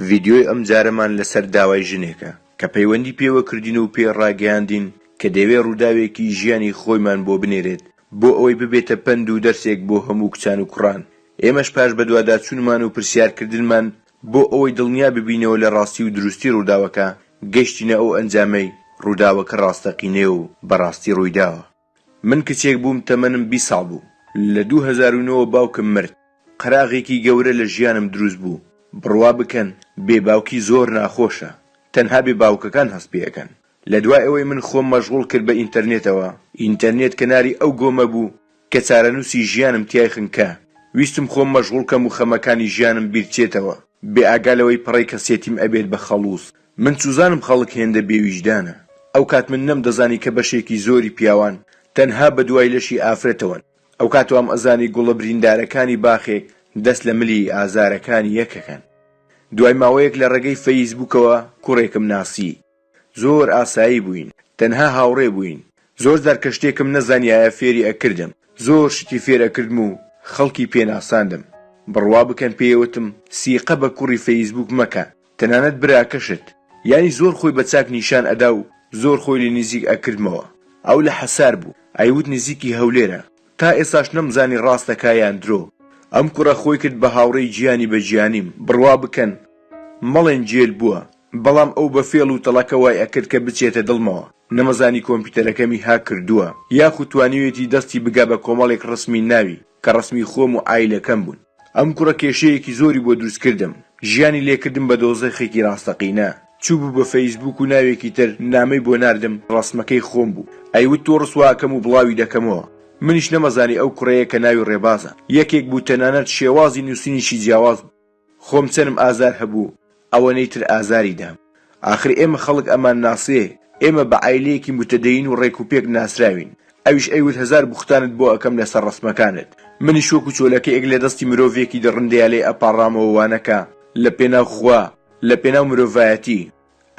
ڤیدیۆی ئەمجارەمان لەسەر داوای ژنێکە کە پەیوەندی پێوە کردین و پێی ڕاگەیاندین کە دەیەوێ ڕووداوێکی ژیانی خۆیمان بۆ بنێرێت بۆ ئەوەی ببێتە پەند و دەرسێک بۆ هەموو کچان و کوڕان ئێمەش پاش بەدواداچوونمان و پرسیارکردنمان بۆ ئەوەی دڵنیا ببینەوە لە ڕاستی و دروستی ڕووداوەکە گەشتینە ئەو ئەنجامەی ڕووداوەکە ڕاستەقینەیە و بەڕاستی ڕوویداوە. من کچێک بووم تەمەنم بیست ساڵ بوو لە دوو هەزار و نۆ وە باوکم مرد قەراغێکی گەورە لە ژیانم دروست بوو بڕوا بکەن بێ باوکی زۆر ناخۆشە تەنها بێ باوکەکان هەست پێ ئەکەن لە دوای ئەوەی من خۆم مەژغوڵ کرد بە ئینتەرنێتەوە ئینتەرنێت کەناری ئەو گۆمە بوو کە چارەنووسی ژیانم تیای خنکا ویستم خۆم مەژغوڵ کەم و خەمەکانی ژیانم بیرچێتەوە بێ ئاگا لەوەی پەڕەی کەسێتیم ئەبێت بە خەڵووز من چوزانم خەڵک هێندە بێ ویژدانە ئەوکات من نەم دەزانی کە بەشێکی زۆری پیاوان تەنها بە دوای لەشی ئافرەتەوەن ئەوکات وام ئەزانی گوڵە بریندارەکانی باخێک دەست لە ملی ئازارەکانی یەکەکەن دوای ماوەیەک لە ڕێگەی فەیس بوکەوە کوڕێکم ناسی زۆر ئاسایی بووین تەنها هاوڕێ بووین زۆر جار کە شتێکم نەزانیایە فێری ئەکردم زۆر شتی فێر ئەکردم و خەڵکی پێ ناساندم بڕوا بکەن پێی ئەوتم سیقە بە کوڕی فەیس بوک مەکە تەنانەت براکەشت یانی زۆر خۆی بە چاک نیشان ئەدا و زۆر خۆی لێ نیزیک ئەکردمەوە ئەو لە حەسار بوو ئەیوت نزیکی هەولێرە تا ئێستاش نەمزانی ڕاستەکا یان درۆ ئەم کوڕە خۆی کرد بە هاوڕێی جیانی بە جیانیم بڕوا بکەن مەڵێن جێل بووە بەڵام ئەو بە فێڵ و تەڵەکە وای ئەکرد کە بچێتە دڵمەوە نەمەزانی کۆمپیوتەرەکەمی هاک کردووە یاخو توانیوێتی دەستی بگا بە کۆمەڵێک ڕسمی ناوی کە ڕسمی خۆم و عایلەکەم بوون. ئەم کوڕە کێشەیەکی زۆری بۆ دروست کردم ژیانی لێ کردم بە دۆزەخێکی ڕاستەقینە چوبو بە فەیسبوک و ناوێکی تر نامەی بۆ ناردم ڕەسمەکەی خۆم بوو ئەیوت تۆ ڕسوا ئەکەم و بڵاوی دەکەمەوە منیش نەمەزانی ئەو کوڕەیە کە ناوی ڕێبازە یەکێک بوو تەنانەت شێوازی نوسینیشی جیاواز بوو خۆم چەنم ئازار هەبوو ئەوەنەی تر ئازاری دام. ئاخر ئێمە خەڵک ئەمان ناسێ، ئێمە بە عایلەیەکی موتەدەین و ڕێک و پێک ناسراوین. ئەویش ئەیوت هەزار بوختانت بۆ ئەکەم لە سەر ڕەسمەکانت. منیش وەکو چۆلەکەیەک لە دەستی مرۆڤێکی دڕندەیا لێ ئەپاڕامەوە وانەکە لە پێناو خوا، لە پێناو مرۆڤایەتی.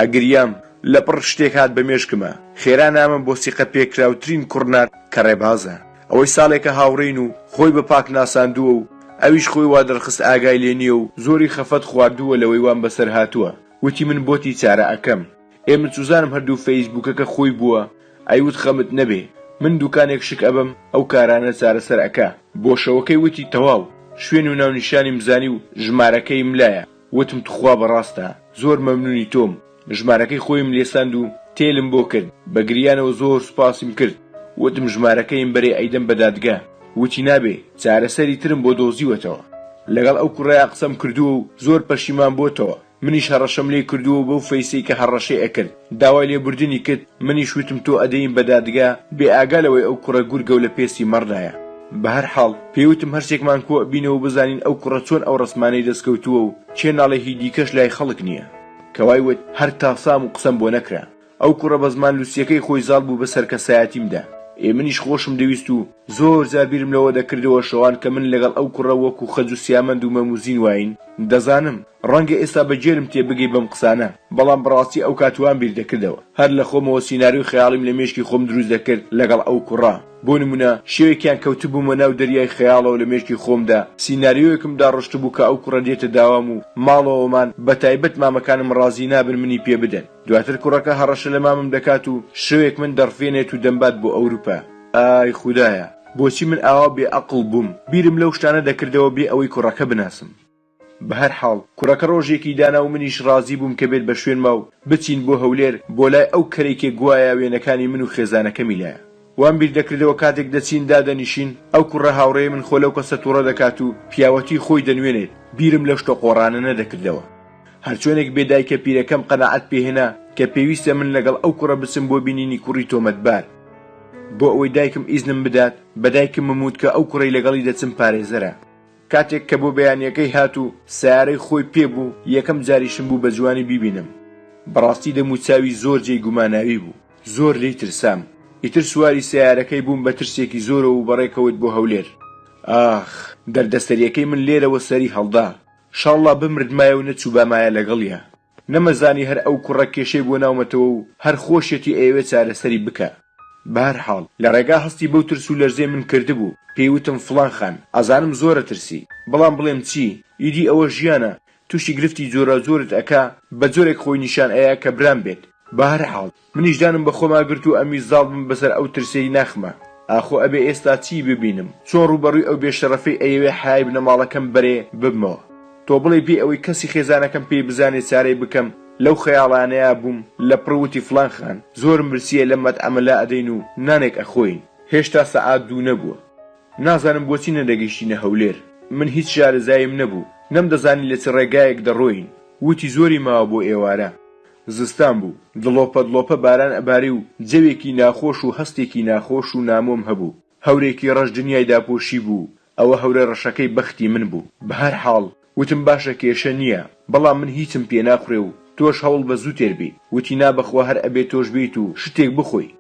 ئەگریام. لە پڕ شتێک هات بە مێشکمە. خێرا نامەم بۆ سیقە پێکراوترین کوڕ نارد کە ڕێبازە. ئەوەی ساڵێکە هاوڕێین و خۆی بە پاک ناساندووە و ئەویش خۆی وا دەرخست ئاگای لێ نییە و زۆری خەفەت خواردووە لەوەی وام بەسەر هاتووە، وتی من بۆتی چارە ئەکەم، ئێ من سوزانم هەردوو فەیسبووکەکە خۆی بووە، ئەیوت خەمت نەبێ من دووکانێک شک ئەبەم ئەو کارانە چارەسەر ئەکا. بۆشەوەکەی وتی تەواو، شوێن و ناونیشانیم زانی و ژمارەکەییم لایە، وتم توخوا بەڕاستە، زۆر مەمنونی تۆم، ژمارەکەی خۆیم لێساند و تێلم بۆ کرد بە گریانەوە زۆر سوپاسیم کرد وتم ژمارەکەیم بەرێ ئەیدەم بە دادگا وتی نابێ چارەسەری ترم بۆ دۆزیوەتەوە لەگەڵ ئەو کوڕەیا قسەم کردووە و زۆر پەشیمان بۆتەوە منیش هەڕەشەم لێ کردووە بەو فەیسەی کە هەڕەشەی ئەکرد داوای لێبوردنی کرد منیش وتم تۆ ئەدەین بە دادگا بێ ئاگا لەوەی ئەو کوڕە گورگەو لە پێستی مەڕدایە بەهەر حاڵ پێی وتم هەرسێکمان کۆ ئەبینەوە بزانین ئەو کوڕە چۆن ئەو ڕەسمانەی دەست کەوتووە و کێ ناڵێ هی دیکەش لای خەڵک نییە. کە وای وت هەر تاسام و قسەم بۆ نەکرا ئەو کوڕە بە زمان لوسیەکەی خۆی زاڵ بوو بە سەر کەسایەتیم دا ئێ منیش خۆشم دەویست و زۆر جار بیرم لەوە دەکردەوە شەوان کە من لەگەڵ ئەو کوڕە وەکوو خەج و سیامەند و مەم و زین واین دەزانم ڕەنگە ئێستا بە گێلم تێ بگەی بەم قسانە بەڵام بەڕاستی ئەو کات وام بیر دەکردەوە هەر لە خۆمەوە سیناریۆی خەیاڵیم لە مێشکی خۆم دروست دەکرد لەگەڵ ئەو کوڕە بۆ نموونە، شەوێکیان کەوتبوومە ناو دەریای خەیاڵەوە لە مێشکی خۆمدا سیناریۆیەکم داڕشتبوو کە ئەو کوڕە دێتە داوام و ماڵەوەمان، بە تایبەت مامەکانم ڕازی نابن منی پێ بدەن. دواتر کوڕەکە هەڕەشە لە مامم دەکات و شەوێک من دەڕفێنێت و دەمبات بۆ ئەوروپا. ئای خودایە! بۆچی من ئاوا بێئەقڵ بووم؟ بیرم لەو شتانە دەکردەوە بێ ئەوەی کوڕەکە بناسم. بەهەر حاڵ کوڕەکە ڕۆژێکی دانا و منیش ڕازی بووم کە بێت بە شوێنما و بچین بۆ هەولێر بۆ لای ئەو کەرەی کە گوایا وێنەکانی من و خێزانەکەمی لایە. وام بیر دەکردەوە کاتێک دەچین دادەنیشین ئەو کوڕە هاوڕێی من خۆ لەو کەسە توڕە دەکات و پیاوەتی خۆی دەنوێنێت، بیرم لەو شتە قۆڕانە نەدەکردەوە. هەرچۆنێک بێ دایکە پیرەکەم قەناعەت پێ هێنا کە پێویستە من لەگەڵ ئەو کوڕە بچم بۆ بینینی کوڕی تۆمەتبار. بۆ ئەوەی دایکم ئیزنم بدات بە دایکمم وت کە ئەو کوڕەی لەگەڵی دەچم پارێزەرە. کاتێک کە بۆ بەیانیەکەی هات و سەیارەی خۆی پێ بوو یەکەم جاریشم بوو بە جوانی بیبینم بەڕاستی دەم و چاوی زۆر جێی گوماناوی بوو زۆر لێی ترسام ئیتر سواری سەیارەکەی بووم بە ترسێکی زۆرەوە و بەڕێکەوت بۆ هەولێر ئاخ دەردە سەریەکەی من لێرەوە سەری هەڵدا شاڵڵا بمردمایە و نەچووبامایە لەگەڵیا. نەمەزانی هەر ئەو کوڕە کێشەی بۆ ناومەتەوە و هەر خۆشیەتی ئەیەوێ چارەسەری بکا. بەهەرحاڵ لە ڕێگا هەستی بەو ترس و لەرزەی من کردبوو، پێی وتم فڵان خان، ئەزانم زۆر ئەترسی، بەڵام بڵێم چی، ئیدی ئەوە ژیانە، تووشی گرفتی جۆراوجۆرت ئەکا، بە جۆرێک خۆی نیشان ئەیا کە برام بێت، بەهەرحاڵ. منیش دانم بەخۆما گرت و ئەموی زاڵ بم بەسەر ئەو ترسەی ناخما. ئاخۆ ئەبێ ئێستا چیی ببینم؟ چۆن ڕووبەڕووی ئەو بێشەڕەفەی ئەیەوێ حەیای بنەماڵەکەم بەرێ، ببمەوە؟ تۆ بڵێی بێ ئەوەی کەسی خێزانەکەم پێی بزانێ چارەی بکەم؟ لەو خەیاڵانەیا بووم، لەپڕ وتی فڵان خان، زۆرم برسییە لەم مەتعەمە لا ئەدەین و نانێک ئەخۆین. هێشتا سەعات دوو نەبووە. نازانم بۆچی نەدەگەیشتینە هەولێر. من هیچ شارەزاییم نەبوو. نەمدەزانی لە چ ڕێگایەک دەڕۆیین. وتی زۆری ماوە بۆ ئێوارە. زستان بوو، دڵۆپە دڵۆپە باران ئەباری و جەوێکی ناخۆش و هەستێکی ناخۆش و نامۆم هەبوو. هەورێکی ڕەش دنیای داپۆشیبوو، ئەوە هەورە ڕەشەکەی بەختی من بوو. بەهەرحاڵ، وتم باشە کێشە نییە، بەڵام من هیچم پێ ناخورێ و تۆش هەوڵ بە زوو تێر بی. وتی نا بەخوا هەر ئەبێ تۆش بێیت و شتێک بخۆی.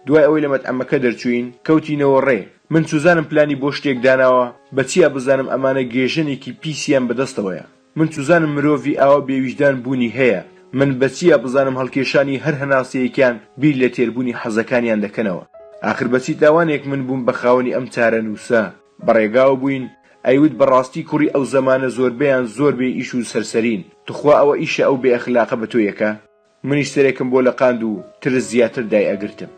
دوای ئەوەی لە مەتعەمەکە دەرچووین، کەوتینەوە ڕێ. من چوزانم پلانی بۆ شتێک داناوە، بە چیا بزانم ئەمانە گێژەنێکی پیسیان بە دەستەوەیە. من چوزانم مرۆڤی ئاوا بێ ویژدان بوونی هەیە من بەچیا بزانم هەڵکێشانی هەر هەناسەیەکیان بیر لە تێربوونی حەزەکانیان دەکەنەوە ئاخر بەچی تاوانێک من بووم بە خاوەنی ئەم چارەنووسە بەڕێگاوە بووین ئەیوت بەڕاستی کوڕی ئەو زەمانە زۆربەیان زۆر بێ ئیش و سەرسەرین توخوا ئەوە ئیشە ئەو بێ ئەخلاقە بە تۆ یەکە منیش سەرێکم بۆ لەقاند و ترس زیاتر دای ئەگرتم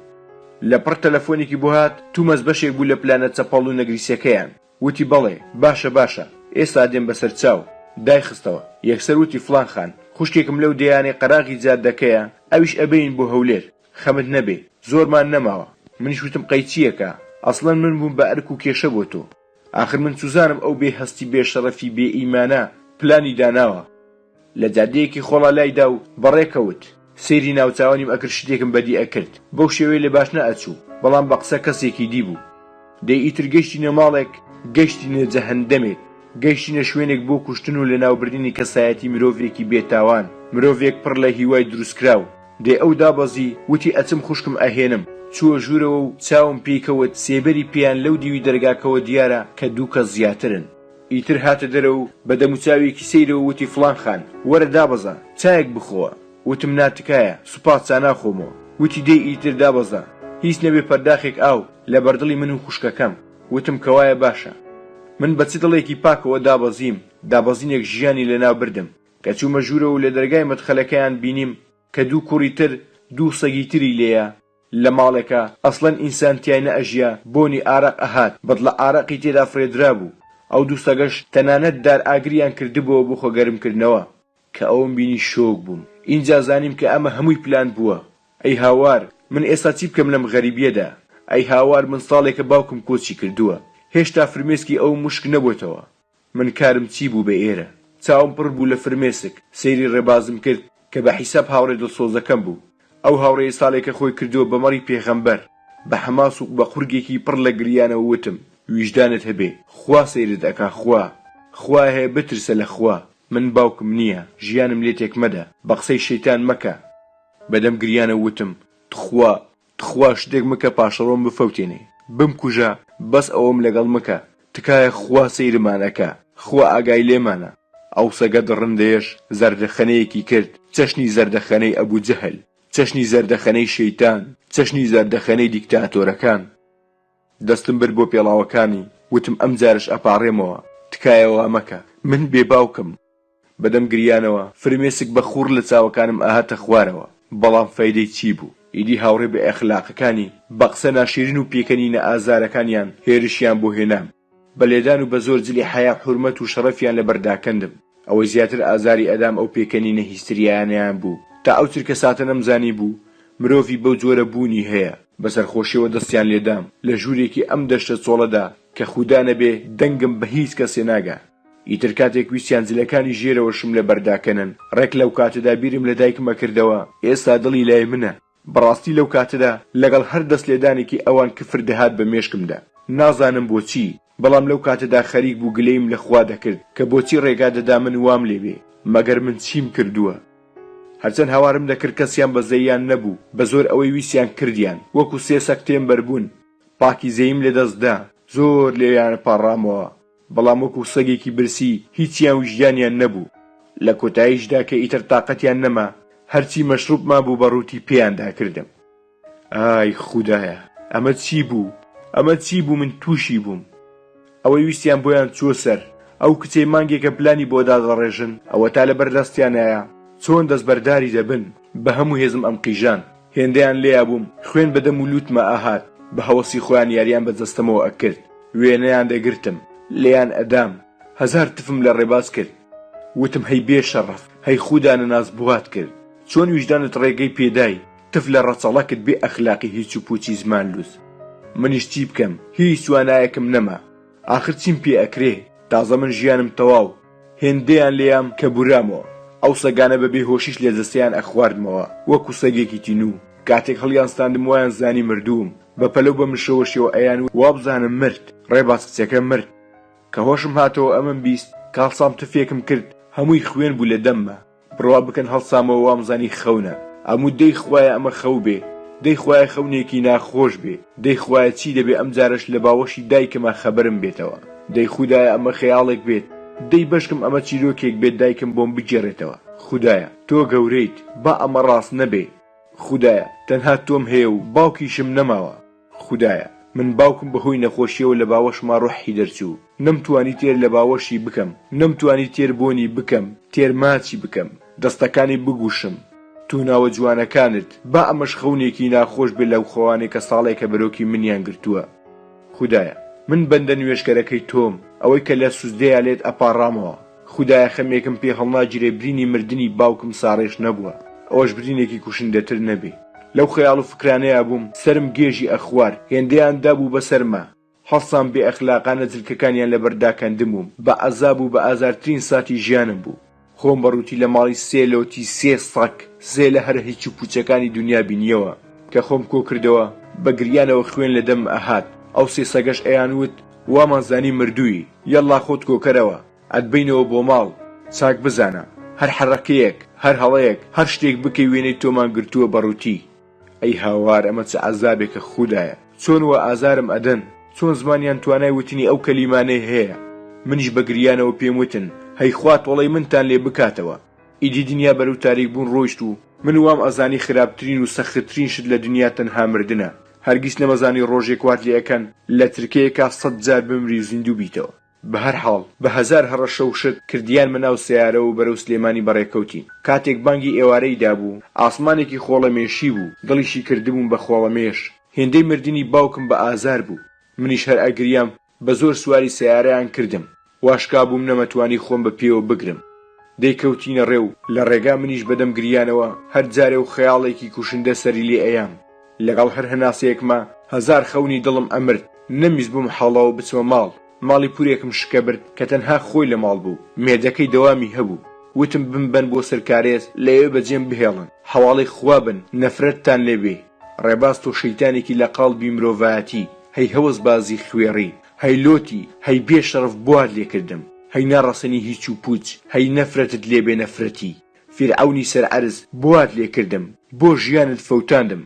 لەپڕ تەلەفۆنێکی بۆ هات تومەز بەشێک بوو لە پلانە چەپەڵ و نەگریسەکەیان. وتی، بەڵێ، باشە باشە، ئێستا دێم بەسەر چاو. دایخستەوە. یەکسەر وتی، فڵان خان، خوشکێکم لەو دێیانەی قەراغی جادەکەیە، ئەویش ئەبەین بۆ هەولێر. خەمت نەبێ، زۆرمان نەماوە. منیش وتم، قەی چییەکا؟ ئەسڵەن من بووم بە ئەرک و کێشە بۆ تۆ. ئاخر من چوزانم ئەو بێ هەستی بێ شەڕەفی بێ ئیمانە پلانی داناوە. لە جادەیەکی خۆڵا لایدا و بەڕێ کەوت. سەیری ناوچاوانیم ئەکرد شتێکم بەدی ئەکرد. بەو شێوەیە لە باشنا ئەچوو. بەڵام بە قسە کەسێکی دی بوو. دەی ئیتر گەیشتینە ماڵێک، گەیشتینە جەهەندەمێک. گەیشتینە شوێنێک بۆ کوشتن و لەناوبردنی کەسایەتی مرۆڤێکی بێ تاوان. مرۆڤێک پڕ لە هیوای دروستکراو. دەی ئەو دابەزی، وتی ئەچم خوشکم ئەهێنم. چووە ژوورەوە و چاوم پێی کەوت سێبەری پێیان لەو دیوی دەرگاکەوە دیارە کە دوو کەس زیاترن. ئیتر هاتە دەرە و بە دەموچاوێکی سەیرەوە وتی فڵان خان، وەرە دابەزە، چایەک بخۆوە. وتم نا تکایە، سوپاس، چا ناخۆمەوە. وتی دەی ئیتر دابەزە، هیچ نەبێ پەرداخێک ئاو لە بەردڵی من و خوشکەکەم. وتم کە وایە باشە. من بە چ دڵێکی پاکەوە دابەزیم، دابەزینێک ژیانی لە ناو بردم. کە چوومە ژوورەوە و لە دەرگای مەدخەلەکەیان بینیم کە دوو کوڕی تر، دوو سەگی تری لێیە. لە ماڵێکا ئەسڵەن ئینسان تیای نە ئەژیا بۆنی ئارەق ئەهات بەدڵە ئارەقی تێدا فڕێدرابوو ئەو دوو سەگەش تەنانەت دار ئاگریان کردبۆوە بۆ خۆگەرم کردنەوە. کە ئەوم بینی شۆک بووم ئینجا زانیم کە ئەمە هەمووی پلان بووە ئەی هاوار من ئێستا چی بکەم لەم غەریبیەدا ئەی هاوار من ساڵێکە باوکم کۆچی کردووە هێشتا فرمێسکی ئەوم وشک نەبۆتەوە من کارم چی بوو بە ئێرە؟ چاوم پڕ بوو لە فرمێسک، سەیری ڕێبازم کرد کە بە حیساب هاوڕێ دڵسۆزەکەم بوو. ئەو هاوڕێیە ساڵێکە خۆی کردووە بە مەڕی پێغەمبەر. بە حەماسوق بە قورگێکی پڕ لە گریانەوە وتم، ویژدانت هەبێ، خوا سەیرت ئەکا، خوا! خوایه بترسە لە خوا، من باوکم نییە، ژیانم لێ تێک مەدە، بە قسەی شەیتان مەکە. بە دەم گریانەوە وتم، تخوا تخوا شتێک مکە پاشەڕۆم بفەوتێنێ بمکوژە بەس ئەوەم لەگەڵ مکە تکایە خوا سەیرمان ئەکا خوا ئاگای لێمانە ئەو سەگە دڕندەیەش زەردەخەنەیەکی کرد چەشنی زەردەخەنەی ئەبو جەهل چەشنی زەردەخەنەی شەیتان چەشنی زەردەخەنەی دیکتاتۆرەکان دەستم برد بۆ پێڵاوەکانی وتم ئەمجارەش ئەپاڕێمەوە تکایە وامەکە من بێ باوکم بەدەم گریانەوە فرمێسک بە خوڕ لە چاوەکانم ئاهاتە خوارەوە، بەڵام فەیدەی چی بوو؟ ئیدی هاوڕێ بێ ئەخلاقەکانی بە قسە ناشیرین و پێکەنینە ئازارەکانیان هێرشیان بۆ هێنام، بە لێدان و بە زۆر جلی حەیا حورمەت و شەڕەفیان لە بەر داکەندم، ئەوەی زیاتر ئازاری ئەدام ئەو پێکەنینە هیستریایانەیان بوو، تا ئەو چرکەساتە نەمزانیبوو مرۆڤی بەو جۆرە بوونی هەیە. بە سەرخۆشیەوە دەستیان لێدام، لە ژوورێکی ئەم دەشتە چۆڵەدا کە خودا نەبێ دەنگم بە هیچ کەسێ ناگا، ئیتر کاتێک ویستیان جلەکانی ژێرەوەشم لە بەر داکەنن، ڕێک لەو کاتەدا بیرم لە دایکم ئەکردەوە، ئێستا دڵی لای منە. بەڕاستی لەو کاتەدا لەگەڵ هەر دەست لێدانێکی ئەوان کفر دەهات بە مێشکمدا. نازانم بۆچی، بەڵام لەو کاتەدا خەریک بوو گلەییم لە خوا دەکرد کە بۆچی ڕێگا دەدا من وام لێ بێ، مەگەر من چیم کردووە؟ هەرچەند هاوارم دەکرد کەسیان بە زەییان نەبوو، بە زۆر ئەوەی ویستیان کردیان، وەکوو سێ سەگ تێمبەر بوون، پاکیزەییم لە دەست دا، زۆر لێیانپاڕامەوە. بەڵام وەکو سەگێکی برسی هیچیان ویژدانیان نەبوو لە کۆتایشدا کە ئیتر تاقەتیان نەما هەرچی مەشڕوب مابوو بە ڕووتی پێیان داکردم ئای خودایە ئەمە چی بوو ئەمە چی بوو من توشی بووم ئەوەی ویستیان بۆیان چووە سەر ئەو کچەی مانگێکە پلانی بۆ دادەڕێژن ئەوەتا لەبەر دەستیانایە چۆن دەستبەرداری دەبن بە هەموو هێزم ئەمقیژان. هێندەیان لێیا بووم خوێن بە دەم و لووتمە ئەهات، بە هەوەسی خۆیان یاریان بە جەستەمەوە ئەکرد، وێنەیان دەگرتم، لێیان ئەدام، هەزار تفم لە ڕێباز کرد، وتم هەی بێ شەڕەف، هەی خودا نەناس بوات کرد، چۆن ویژدانت ڕێگەی پێدای، تف لە ڕەچەڵەکت بێ ئەخلاقی هیچ و پووچی زمان لووس. منیش چی بکەم، هیچ توانایەکم نەما، ئاخر چیم پێ ئەکرێ تازە من ژیانم تەواو هێندەیان لێیام کە بورامەوە ئەو سەگانە بە بێ هۆشیش لە جەستەیان ئەخواردمەوە وەکو سەگێکی تینوو کاتێک هەڵیانستاندم وایان زانی مردووم بە پەلەو بە مشەوەشیەوە ئەیان وابزانم مرد ڕێباز کچەکە مرد کە هۆشم هاتەوە ئەمەم بیست کاڵسام تفێکم کرد هەمووی خوێن بوو لە دەمما. بڕوا بکەن هەڵسامەوە وامزانی خەونە ئەموت دەی خوایە ئەمە خەو بێ دەی خوایە خەونێکی ناخۆش بێ دەی خوایە چی دەبێ ئەم جارەش لە باوەشی دایکما خەبەرم بێتەوە دەی خودایە ئەمە خەیاڵێک بێت دەی بەشکم ئەمە چیرۆکێک بێت دایکم بۆم بگێڕێتەوە خودایە تۆ گەورەیت با ئەمە ڕاست نەبێ خودایە تەنها تۆم هەیە و باوکیشم نەماوە. خودایە من باوکم بەهۆی نەخۆشیەوە لە باوەشما ڕۆححی دەرچوو نەم توانی تێر لە باوەشی بکەم نەم توانی تێر بۆنی بکەم تێر ماچی بکەم دەستەکانی بگوشم تۆ ناوە جوانەکانت با ئەمەش خەونێکی ناخۆش بێ لەو خەوانەی کە ساڵێکە بەرۆکی منیان گرتووە خودایە من بەندە نوێژکەرەکەی تۆم ئەوەی کە لە سوجدەیا لێت ئەپاڕامەوە. خودایە خەمێکم پێ هەڵناگیرێ برینی مردنی باوکم ساڕێژ نەبووە ئەوەش برینێکی کوشندەتر نەبێ لەو خەیاڵ و فکرانەیا بووم سەرم گێژی ئەخوارد هێندەیان دابوو بەسەرما هەڵسام بێ ئەخلاقانە جلکەکانیان لەبەر داکەندبووم بە عەزاب و بە ئازارترین ساتی ژیانم بوو خۆم بە ڕووتی لە ماڵی سێ لۆتی سێ سەگ زێلە هەرە هیچ و پووچەکانی دونیا بینیەوە کە خۆم کۆکردەوە بە گریانەوە خوێن لە دەمم ئەهات ئەو سێ سەگەش ئەیان وت وامان زانی مردووی. یەڵڵا خۆت کۆکەرەوە ئەتبەینەوە بۆ ماڵ. چاک بزانە هەر حەڕەکەیەک هەر هەڵەیەک هەر شتێک بکەی وێنەی تۆمان گرتووە بە ڕووتی. ئەی هاوار ئەمە چ عەزابێکە خودایە چۆن وا ئازارم ئەدەن چۆن زمانیان توانای وتنی ئەو کەلیمانەی هەیە منیش بە گریانەوە پێم وتن هەی خوا تۆڵەی منتان لێ بکاتەوە ئیدی دنیا بەرەو تاریک بوون ڕۆیشت و من وام ئەزانی خراپترین و سەختترین شت لە دنیا تەنها مردنە هەرگیز نەمەزانی ڕۆژێک وات لێ ئەکەن لە ترکەیەکا سەد جار بمری و زیندوو بیتەوە. بە هەر حاڵ، بە هەزار هەڕەشە و شت، کردیانمە ناو سەیارە و بەرەو سلێمانی بەڕێ کەوتین. کاتێک بانگی ئێوارەی دابوو، ئاسمانێکی خۆڵەمێشی بوو، دڵیشی کردبووم بە خۆڵەمێش. هێندەی مردنی باوکم بە ئازار بوو. منیش هەر ئەگریام. بە زۆر سواری سەیارەیان کردم واشکابووم نەمەتوانی خۆم بە پێوە بگرم دەیکەوتینە ڕێ و لە ڕێگا منیش بەدەم گریانەوە هەر جارێ و خەیاڵێکی کوشندە سەری لێ ئەیام لەگەڵ هەر هەناسەیەکما هەزار خەونی دڵم ئەمرد نەمویستبووم حاڵەوە بچمە ماڵ ماڵی پورێکم شکەبرد کە تەنها خۆی لە ماڵ بوو مێردەکەی دەوامی هەبوو وتم بمبەن بۆ سەر کارێز لەوێ بەجێم بهێڵن حەواڵەی خوا بن نەفرەتتان لێ بێ. ڕێباز تۆ شەیتانێکی لە قاڵبی مرۆڤایەتی، هەی هەوەسبازی خوێڕی، هەی لۆتی، هەی بێ شەڕەف بوار لێکردم، هەی ناڕەسەنی هیچ و پووچ، هەی نەفرەتت لێ بێ نەفرەتی فیرعەونی سەر عەرز بوار لێکردم، بۆ ژیانت فەوتاندم،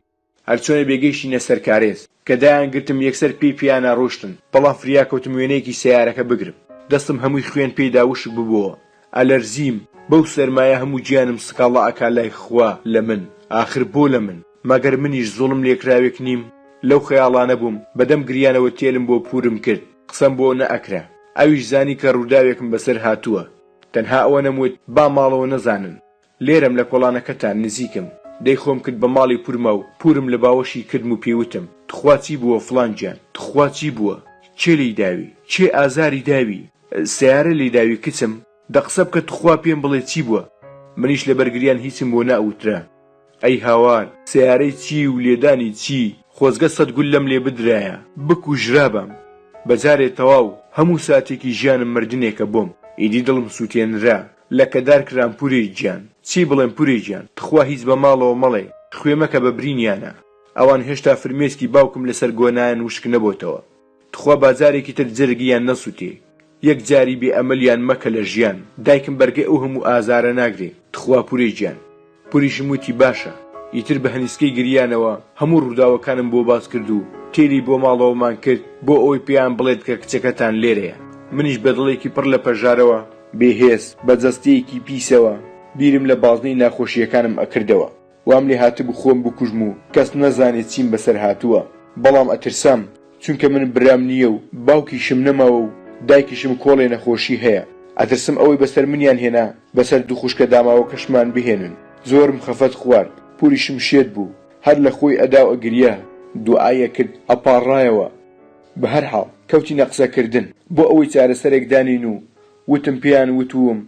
هەر چۆنە بێ گەیشتینە سەر کارێز کە دایان گرتم یەکسەر پێی پێیانا ڕۆشتن بەڵام فریا کەوتم وێنەیەکی سەیارەکە بگرم دەستم هەمووی خوێن پێی دا وشک ببۆوە ئەلەرزیم بەو سەرمایە هەموو گیانم سکاڵا ئەکا لای خوا لە من ئاخر بۆ لە من مەگەر منیش زوڵم لێکراوێک نیم لەو خەیاڵانە بووم بەدەم گریانەوە تێلم بۆ پورم کرد قسەم بۆ نە ئەکرا ئەویش زانی کە ڕووداوێکم بەسەر هاتووە تەنها ئەوەنەم وت با ماڵەوە نەزانن لێرەم لە کۆڵانەکەتان نزیکم. دەی خۆم کرد بە ماڵی پورما و پورم لە باوەشی کردم و پێیوتم، توخوا چی بووە فڵان گیان؟ توخوا چی بووە؟ کێ لێی داوی؟ کێ ئازاری داوی؟ سەیارە لێی داوی کچم؟ دە قسە بکە توخوا پێم بڵێ چی بووە؟ منیش لەبەر گریان هیچم بۆ نەئوترا. ئەی هاوار، سەیارەی چی و لێدانی چی؟ خۆزگە سەد گول لەم لێ بدرایە. بکوژرابام بە جارێ تەواو. هەموو ساتێکی ژیانم مردنێکە بۆم. ئیدی دڵم سووتێنرا. لەکەدار کرام پورێ گیان. چی بڵێم پورێ گیان تخوا هیچ بە ماڵەوە مەڵێ خوێ مەکە بە برینیانە ئەوان هێشتا فرمێسکی باوکم لەسەر گۆنایان وشک نەبۆتەوە تخوا با جارێکی تر جەرگ یان نەسوتێ یەک جاری بێ ئەمەلیان مەکە لە ژیان دایکم بەرگەی ئەو هەموو ئازارە ناگرێ تخوا پورێ گیان. پوریشم وتی باشە. ئیتر بە هەنیسکەی گریانەوە هەموو ڕووداوەکانم بۆ باس کرد و تێلی بۆ ماڵەوەمان کرد بۆ ئەوەی پێیان بڵێت کە کچەکەتان لێرەیە. منیش بە دڵێکی پڕ لە پەژارەوە، بێ هێز، بە جەستەیەکی پیسەوە بیرم لە بازنەی ناخۆشییەکانم ئەکردەوە. وام لێهاتبوو خۆم بکوژم و کەس نەزانێت چیم بەسەر هاتووە. بەڵام ئەترسام چونکە من برام نییە و باوکیشم نەماوە و دایکیشم کۆڵێ نەخۆشی هەیە ئەترسم ئەوەی بەسەر منیان هێنا بەسەر دوو خوشکە داماوەکەشمان بهێنن زۆرم خەفەت خوارد پوریشم شێت بوو هەر لە خۆی ئەدا و ئەگریا دوعای ئەکرد ئەپاڕایەوە بەهەرحاڵ کەوتینە قسەکردن بۆ ئەوەی چارەسەرێک دانێین و وتم پێیان وتووم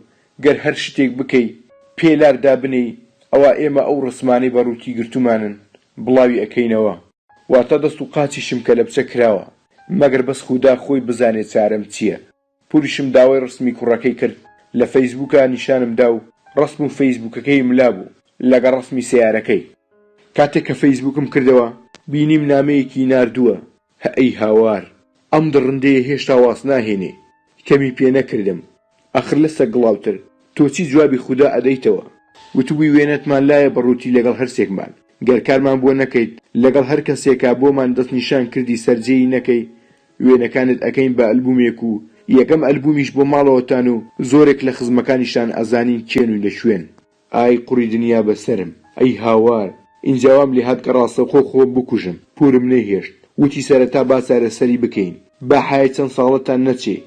گەر هەر شتێک بکەی پێ لار دابنێی ئەوا ئێمە ئەو ڕسمانەی بە ڕووتی گرتوومانن بڵاوی ئەکەینەوە. واتە دەست و قاچیشم کەلەبچە کراوە، مەگەر بەس خودا خۆی بزانێ چارەم چییە. پوریشم داوای ڕسمی کوڕەکەی کرد لە فەیسبووکا نیشانم دا و ڕسم و فەیسبووکەکەی ملا بوو لەگەڵ ڕسمی سەیارەکەی. کاتێک کە فەیسبووکم کردەوە بینیم نامەیەکی ناردووە، هەئەی هاوار، ئەم دڕندەیە هێشتا واز ناهێنێ. کەمی پێ نەکردم، ئاخر لە سەگ گڵاوتر تۆ چی جوابی خودا ئەدەیتەوە؟ وتبووی وێنەتمان لایە بە ڕووتی لەگەڵ هەرسێکمان گەر کارمان بۆ نەکەیت لەگەڵ هەر کەسێکا بۆمان دەست نیشان کردی سەر جێی نەکەی وێنەکانت ئەکەین بە ئەلبومێک و یەکەم ئەلبومیش بۆ ماڵەوەتان و زۆرێک لە خزمەکانیشتان ئەزانین کێن و لە کوێن. ئای قوڕی دنیا بە سەرم ئەی هاوار ئینجا وام لێ هات کە ڕاستەوخۆ خۆم بکوژم پورم نەیهێشت وتی سەرەتا با چارەسەری بکەین با حەیای چەند ساڵەتان نەچێ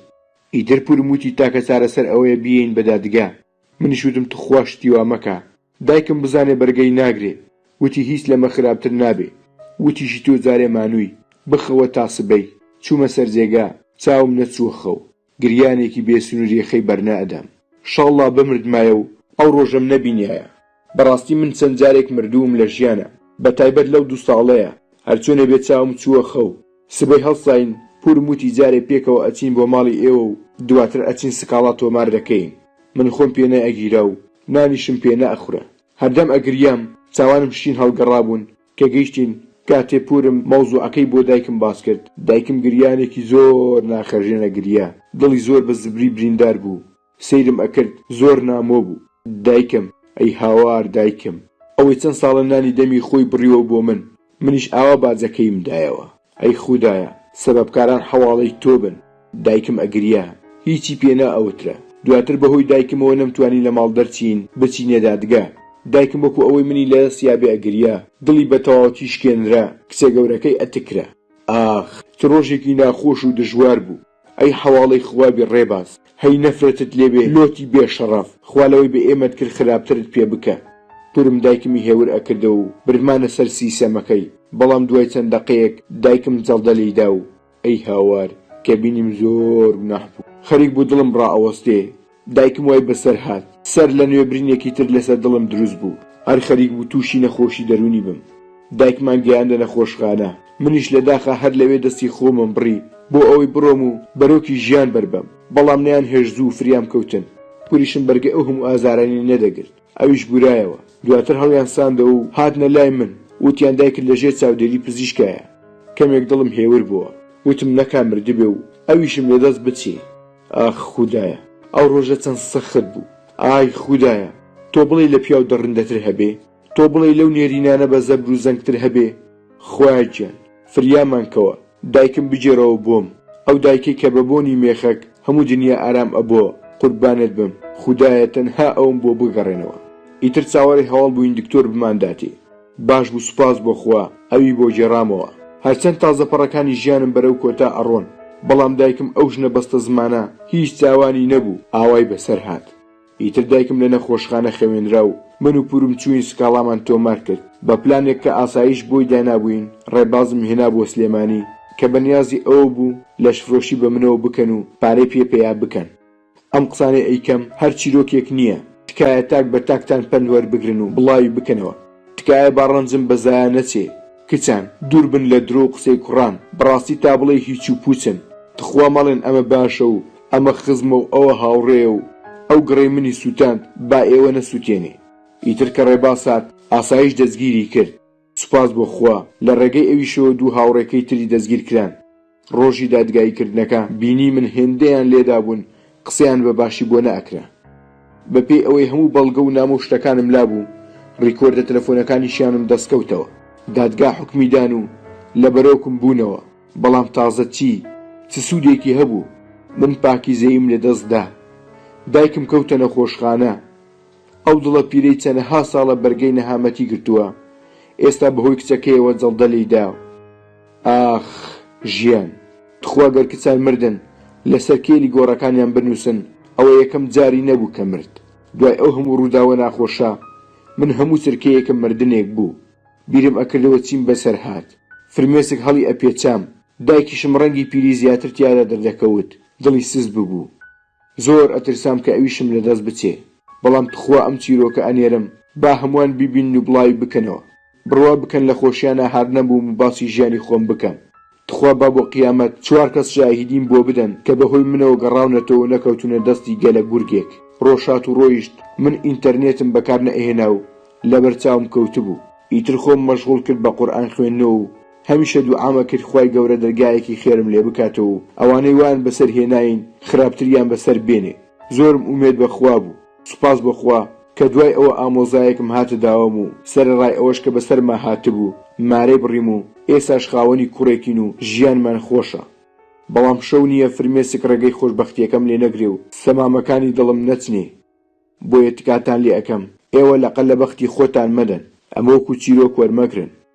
ئیتر پورم وتی تاکە چارەسەر ئەوەیە بیێین بە دادگا. منیش وتم توخوا شتی وا مەکە. دایکم بزانێ بەرگەی ناگرێ. وتی هیچ لەمە خراپتر نابێ. وتیشی تۆ جارێ مانووی. بخەوە تا سبەی. چوومە سەر جێگا. چاوم نەچووە خەو. گریانێکی بێ سنووری خەی بەرنەئەدام. شەڵڵا بمردمایە و ئەو ڕۆژەم نەبینیایە. بەڕاستی من چەند جارێک مردووم لە ژیانا بە تایبەت لەو دوو ساڵەیا هەر چۆنێ بێ چاوم چووە خەو سبەی هەڵساین پورم وتی جارێ پێکەوە ئەچین بۆ ماڵی ئێوە و دواتر ئەچین سکاڵا تۆمار دەکەین من خۆم پێ نە ئەگیرا و نانیشم پێ نە ئەخورا هەردەم ئەگریام چاوانم شین هەڵگەڕابوون کە گەیشتین کاتێ پورم مەوزوعەکەی بۆ دایکم باس کرد دایکم گریانێکی زۆر ناخهەژێنە گریا دڵی زۆر بە زبری بریندار بوو سەیرم ئەکرد زۆر نامۆ بوو. دایکم، ئەی هاوار دایکم. ئەوەی چەند ساڵە نانی دەمی خۆی بڕیوە بۆ من. منیش ئاوا باجەکەیم دایەوە. ئەی خودایە، سەبەبکاران حەواڵەی تۆ بن. دایکم ئەگریا. هیچی پێ نا ئەوترە. دواتر بەهۆی دایکمەوە نەمتوانی لە ماڵ دەرچین بچینە دادگا. دایکم وەکو ئەوەی منی لە دەست یابێ ئەگریا. دڵی بە تەواوەتی شکێنرا. کچە گەورەکەی ئەتکرا. ئاخ، چ ڕۆژێکی ناخۆش و دژوار بوو. ئەی حەواڵەی خوا بی ڕێباز هەی نەفرەتت لێ بێ لۆتی بێ شەڕەف خوا لەوەی بە ئێمەت کرد خراپترت پێ بکە کورم دایکمی هێور ئەکردەوە و بردمانە سەر سیسەمەکەی بەڵام دوای چەند دەقەیەک دایکم جەڵدە لێی دا و ئەی هاوار کە بینیم زۆر گوناح بوو خەریک بوو دڵم ڕائەوەستێ دایکم وای بەسەر هات سەر لە نوێ برینێکی تر لەسەر دڵم دروست بوو هەر خەریک بوو تووشی نەخۆشی دەروونی بم دایکمان گەیاندە نەخۆشخانە منیش لە داخا هەر لەوێ دەستی خۆمم بڕی بۆ ئەوەی بڕۆم و بەرۆکی ژیان بەربەم بەڵام نەیان هێشت زوو فریام کەوتن پوریشم بەرگەی ئەو هەموو ئازارانەی نەدەگرت ئەویش بورایەوە دواتر هەڵیان ساندەوە و هاتنە لای من وتیان دایکت لە ژێر چاودێری پزیشکایە کەمێک دڵم هێور بووە وتم نەکا مردبێ و ئەویشم لە دەست بچێ ئاخ خودایە ئەو ڕۆژە چەند سەخت بوو ئای خودایە تۆ بڵێی لە پیاو دڕندەتر هەبێ تۆ بڵێی لەو نێرینانە بە زەبر و زەنگتر هەبێ خوایە گیان فریامان کەوە دایکم بگێڕەوە بۆم ئەو دایکەی کە بە بۆنی مێخەک هەموو دنیا ئارام ئەبۆ قوربانت بم خودایە تەنها ئەوم بۆ بگەڕێنەوە ئیتر چاوەڕێ هەواڵ بووین دکتۆر بمانداتێ. باش بوو سوپاس بۆ خوا ئەوی بۆ گێڕامەوە هەرچەند تازە پەڕەکانی ژیانم بەرەو کۆتا ئەڕۆن بەڵام دایکم ئەو ژنە بەستەزمانە هیچ تاوانی نەبوو ئاوای بەسەر هات ئیتر دایکم لە نەخۆشخانە خەوێنرا و من و پورم چووین سکاڵامان تۆمار کرد بە پلانێک کە ئاسایش بۆی دانابووین ڕێبازم هێنا بۆ سلێمانی کە بەنیازی ئەوە بوو لەشفرۆشی بە منەوە بکەن و پارەی پێ پەیا بکەن. ئەم قسانەی ئەیکەم هەر چیرۆکێک نییە، تکایە تاک بە تاکتان پەند وەربگرن و بڵاوی بکەنەوە، تکایە با ڕەنجم بە زایە نەچێ، کچان دوور بن لە درۆ و قسەی کوڕان، بەڕاستی تا بڵێی هیچ و پووچن، تخوا مەڵێن ئەمە باشە و ئەمە خزمە و ئەوە هاوڕێیە و ئەو گڕی منی سووتاند، با ئێوە نەسووتێنێ. ئیتر کە ڕێباز هات، ئاسایش دەستگیری کرد، سوپاس بۆ خوا، لە ڕێگەی ئەویشەوە دوو هاوڕێکەی تری دەستگیرکران. ڕۆژی دادگاییکردنەکە بینیمن هێندەیان لێدابوون قسەیان بە باشی بۆ نەئەکرا. بەپێی ئەوەی هەموو بەڵگە و نامە و شتەکانم لابوو، ڕیکۆردە تەلەفۆنەکانیشیانم دەستکەوتەوە. دادگا حوکمی دان و لە بەرۆکم بوونەوە. بەڵام تازە چی؟ چ سوودێکی هەبوو؟ من پاکیزەییم لەدەست دا. دایکم کەوتە نەخۆشخانە. ئەو دڵە پیرەی چەنەها ساڵە بەرگەی نەهامەتی گرتووە، ئێستا بەهۆی کچەکەیەوە جەڵدە لێی دا. ئاخ ژیان. تخوا گەر کچان مردن لەسەر کێلی گۆڕەکانیان بنووسن، ئەوە یەکەم جاری نەبوو کە مرد. دوای ئەو هەموو ڕووداوە ناخۆشە، من هەموو چرکەیەکم مردنێک بوو. بیرم ئەکردەوە چیم بەسەر هات. فرمێسک هەڵی ئەپێچام. دایکیشم ڕەنگی پیری زیاتر تیادا دەردەکەوت، دڵی سست ببوو. زۆر ئەترسام کە ئەویشم لە دەست بچێ بەڵام تخوا ئەم چیرۆکە ئەنێرم با هەموان بیبینن و بڵاوی بکەنەوە بڕوا بکەن لە خۆشیانا هار نەبووم و باسی ژیانی خۆم بکەم تخوا با بۆ قیامەت چوار کەس شاهیدیم بۆ بدەن کە بەهۆی منەوە گەڕاونەتەوە و نەکەوتونە دەستی گەلە گورگێک ڕۆژ هات و ڕۆیشت من ئینتەرنێتم بەکار نەئەهێنا و لەبەر چاوم کەوتبوو ئیتر خۆم مەشغوڵ کرد بە قورئان خوێندنەوە و هەمیشە دوعامە کرد خوای گەورە دەرگایەکی خێرم لێ بکاتەوە و ئەوانەی وایان بەسەر هێناین خراپتریان بەسەر بێنێ زۆرم ئومێد بە خوا بوو سوپاس بۆ خوا کە دوای ئەوە ئامۆزایەکم هاتە داوام و سەرەڕای ئەوەش کە بەسەرما هاتبوو مارەی بڕیم و ئێساش خاوەنی کوڕێکین و ژیانمان خۆشە بەڵام شەو نییە فرمێسک ڕێگەی خۆشبەختیەکەم لێ نەگرێ و سەمامەکانی دڵم نەچنێ بۆیە تکاتان لێ ئەکەم ئێوە لەقە لە بەختی خۆتان مەدەن ئەمە وەکو چیرۆک وەرمەگرن.